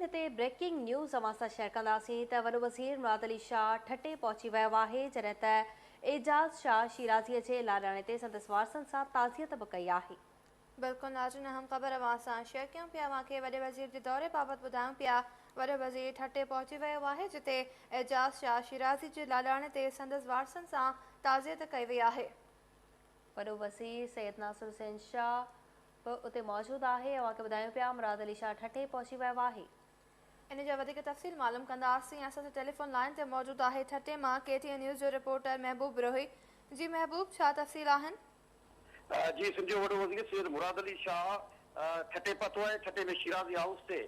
هتي breaking news اوهان سان شيئر ڪنداسين ته وڏو وزير مراد علي شاهه ٺٽي پهچي ويو آهي جڏهن ته اعجاز شاهه شيرازي جي لاڏاڻي تي سندس وارثن سان تعزيت به ڪئي آهي. بلڪل ناظرين اهم خبر اوهان سان شيئر ڪيون پيا اوهان کي وڏي وزير جي دوري بابت ٻڌايون پيا وڏو وزير ٺٽي پهچي ويو آهي جتي اعجاز شاهه شيرازي جي لاڏاڻي تي سندس وارثن سان تعزيت ڪئي وئي آهي. وڏو وزير سيد ناصر حسين شاهه به اتي موجود آهي اوهان کي ٻڌايون پيا مراد علي شاهه ٺٽي پهچي ويو آهي. ان جا وڌيڪ تفصيل معلوم ڪنداسين اسان سان ٽيليفون لائين تي موجود آهي ٺٽي مان ڪي ٽي اين نيوز جو رپورٽر محبوب بروهي جي محبوب ڇا تفصيل آهن. جي سنڌ جو وڏو وزير سيد مراد علي شاهه ٺٽي پهتو آهي ٺٽي ۾ شيرازي هائوس تي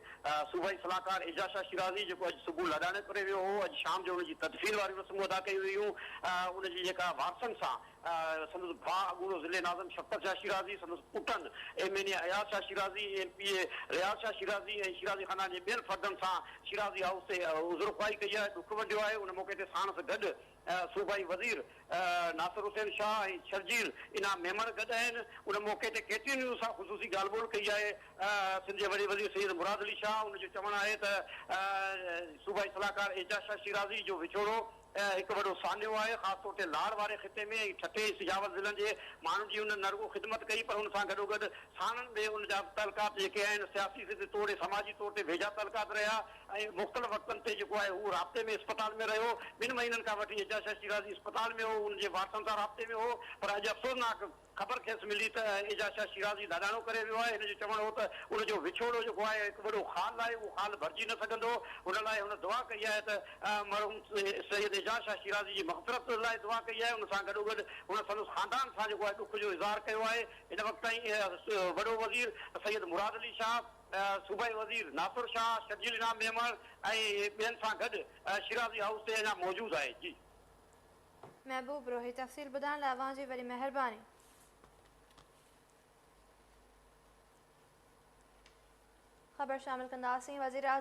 صوبائي صلاحڪار اعجاز شاهه شيرازي جيڪو اڄ صبح لاڏاڻي پري ويو هو اڄ شام جو ان جي تدفين واريون رسمون ادا ڪيون ويون ان جي جيڪا وارثن سان سندس ڀاء اڳوڻو ضلعي ناظم شفقت شاهه شيرازي، سندس پٽن M N A Ayaz Shah Shirazi, M P A Riaz Shah Shirazi ۽ Shirazi خاندان جي ٻين فردن سان شيرازي هائوس تي عذرخواهي ڪئي آهي، ڏک ونڊيو آهي، ان موقعي تي ساڻس گڏ صوبائي وزير ناصر حسين شاهه ۽ شرجيل انعام ميمڻ گڏ آهن، ان موقعي تي ڪي ٽي اين نيوز سان خصوصي ڳالهه ٻولهه ڪئي آهي، سنڌ جي وڏي وزير سيد مراد علي شاهه، ان جو چوڻ آهي ته صوبائي صلاحڪار اعجاز شاهه شيرازي جو وڇوڙو. اهو هڪ وڏو سانحو آهي، خاص طور تي لاڙ واري خطي ۾ ۽ ٺٽي ۽ سجاول ضلعن جي ماڻهن جي هن نه رڳو خدمت ڪئي پر ان سان گڏوگڏ ساڻن به ان جا تعلقات جيڪي آهن سياسي سڌ توڙي سماجي طور تي ويجها تعلقات رهيا ۽ مختلف وقتن تي جيڪو آهي هو رابطي ۾ اسپتال ۾ رهيو ٻن مهينن کان وٺي اعجاز شاهه شيرازي اسپتال ۾ هو ان جي وارثن سان رابطي ۾ هو پر اڄ افسوسناڪ خبر کيس ملي ته اعجاز شاهه شيرازي لاڏاڻو ڪري ويو آهي. هن جو چوڻ هو ته ان جو وڇوڙو جيڪو آهي هڪ وڏو خال آهي، اهو خال ڀرجي نه سگهندو. ان لاء هن دعا ڪئي آهي ته مرحوم سيد اعجاز شاهه شيرازي جي مغفرت لاء دعا ڪئي آهي. ان سان گڏوگڏ هن سندس خاندان سان جيڪو آهي ڏک جو اظهار ڪيو آهي. هن وقت تائين وڏو وزير سيد مراد علي شاهه، صوبائي وزير ناصر شاهه، شرجيل انعام ميمڻ ۽ ٻين سان گڏ شيرازي هائوس تي اڃا موجود آهي. جي. محبوب روهي تفصيل ٻڌائڻ لاء اوهان جي وڏي مهرباني. خبر شامل ڪنداسين وزيراعظم